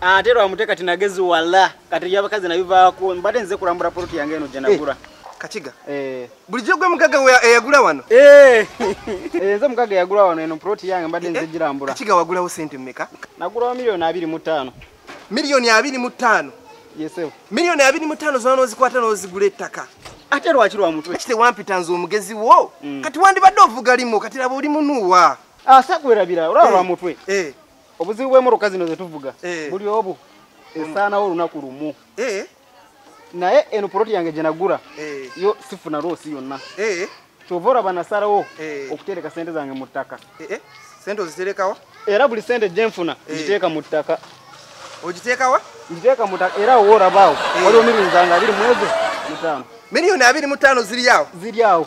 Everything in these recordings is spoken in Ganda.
ate lwamute kati nagezi wala kati byabakazi nabivaako mbadde nze kulambula poloti yange eno gyenagula eh, kakiga eh. bulijjo gwe mugaga eyagula eh, wano nze mugaga eyagula wano eno poloti yange mbadde nze girambula kakiga wagulawo sente mmeka nagulawo miliyoni abiri mu ttaano miliyoni abiri mu ttaano yesebo miliyoni abiri mu ttaano zona nozikwata nozigula ettaka ate lwaki lwa mutwe kite wampita nze omugezi wo mm. kati wandibadde ovuga limu kati laba oli munuuwa asakwerabira ah, olaba lwa mutwe obuzibu bw'emmotoka zino ze tuvuga eh. buli obu esaanawo olunaku lumu eh. naye eno poloti yange gye nagula eh. yo sifuna loosi yonna kyova olaba nasalawo okutereka sente zange mu ttaka sente oziterekawa era buli sente gye nfuna ngiteeka mu ttaka ogiteekawa ngiteeka mu ttaka era owo olabaawo waliwo mirinzange abiri mwezi mutaano miliyoni abiri mutaano ziri awo ziri awo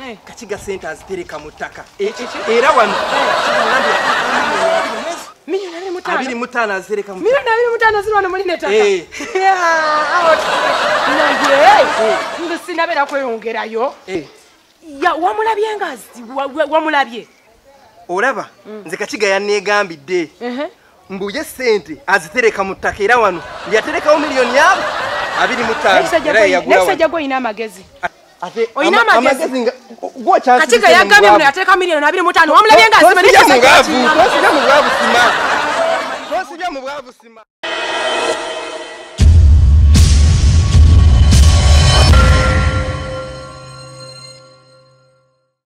eh. kakiga sente azitereka mu ttaka eh, eh, era wano abiri mutaano azireka milioni abiri mutaano ziri wano muli netaka nze sinabeera kweyongerayo wamulabye nga wamulabye olaba mm. nze kakiga yanneegambidde mbu ye sente azitereka mu ttaka era wano yaterekawo miliyoni yabo abiri mu ttaanoekisajja gwe olina amagezi olina amagezi kati ge yagambye muno yatereka miliyoni abiri mu ttaano wamulabye nga asima